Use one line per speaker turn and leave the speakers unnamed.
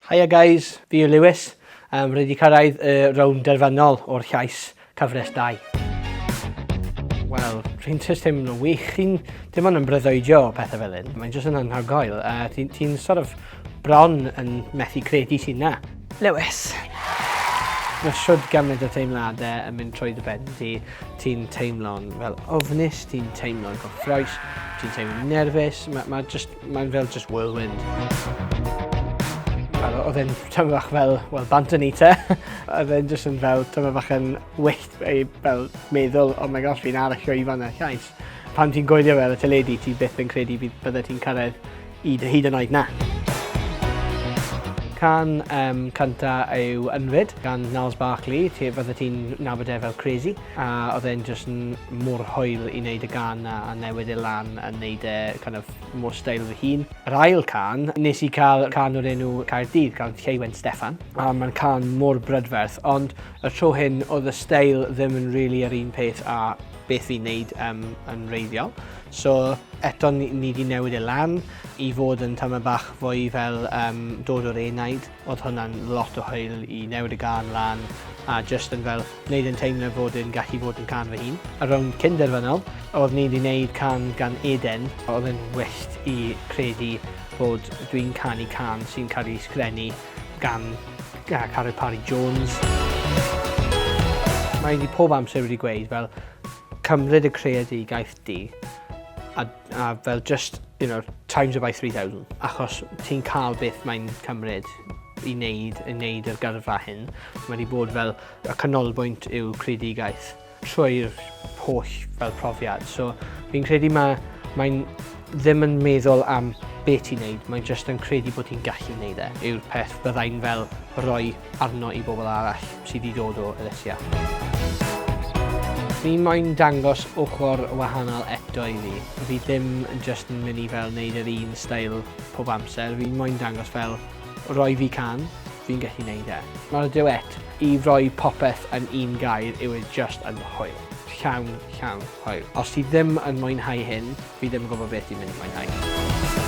Haia guys, fi yw Lewis, um, rydw i cyrraedd y rownd derfynol o'r llais cyfres 2. Wel, rwy'n just teimlo'n wych, chi'n dim ond yn bryddoedio o pethau fel hyn, mae'n just yn anhygoel, uh, ti'n ti sort of bron yn methu credu sy'n na. Lewis. Mae siwrd gymryd o teimladau yn mynd trwy dy ben ti. Ti'n teimlo'n fel ofnus, ti'n teimlo'n gyffroes, ti'n teimlo'n nerfus. Mae ma just Mae'n fel just whirlwind. Oedd e'n tyfu fach fel, wel, bant yn eater. Oedd e'n just yn fel tyfu fach yn wyllt ei fel meddwl, oh my gosh, fi'n arallio i fanna, llais. Pan ti'n goelio fel y teledu, ti byth yn credu bydd bydde ti'n cyrraedd i dy hyd yn oed na. Can um, cynta yw Ynfyd gan Niles Barkley, ti fydde ti'n nabod e fel Crazy. A oedd e'n just yn mor hwyl i wneud y gan na a newid e lan a wneud e kind of mor style fy hun. Yr ail can, nes i cael can o'r enw Caerdydd gan Lleuwen Steffan a mae'n can mor brydferth ond y tro hyn oedd y style ddim yn really yr un peth a beth fi'n neud um, yn reiddiol. So eto ni wedi newid e lan i fod yn tyma bach fwy fel um, dod o'r enaid. Oedd hwnna'n lot o hwyl i newid y gân lan a jyst yn fel wneud e'n teimlo fod e'n gallu bod yn cân fy hun. Ar rownd cyn-derfynol, oedd ni 'di wneud cân gan Eden, oedd e'n wyllt i credu fod dwi'n canu cân sy'n cael ei sgrennu gan Carwyn Parry Jones. Mae hi pob amser wedi gweud fel cymryd y creadigaeth di a A fel just, you know, times it by 3000. Achos ti'n cael beth mae'n cymryd i wneud, i wneud yr gyrfa hyn. Mae wedi bod fel y canolbwynt yw creadigaeth trwy'r holl fel profiad. So fi'n credu mae mae'n ddim yn meddwl am beth ti'n neud, mae'n just yn credu bod ti'n gallu neud e, yw'r peth byddai'n fel rhoi arno i bobl arall sydd wedi dod o elusia. Fi moyn dangos ochr wahanol eto i fi. Fi ddim yn just yn mynd i fel wneud yr un stael pob amser. Fi moyn dangos fel roi fi can, fi'n gallu gwneud e. Mae'r duet i roi popeth yn un gair yw e just yn hwyl. Llawn, llawn, hwyl. Os ti ddim yn mwynhau hyn, fi ddim yn gwybod beth i'n mynd i mwynhau.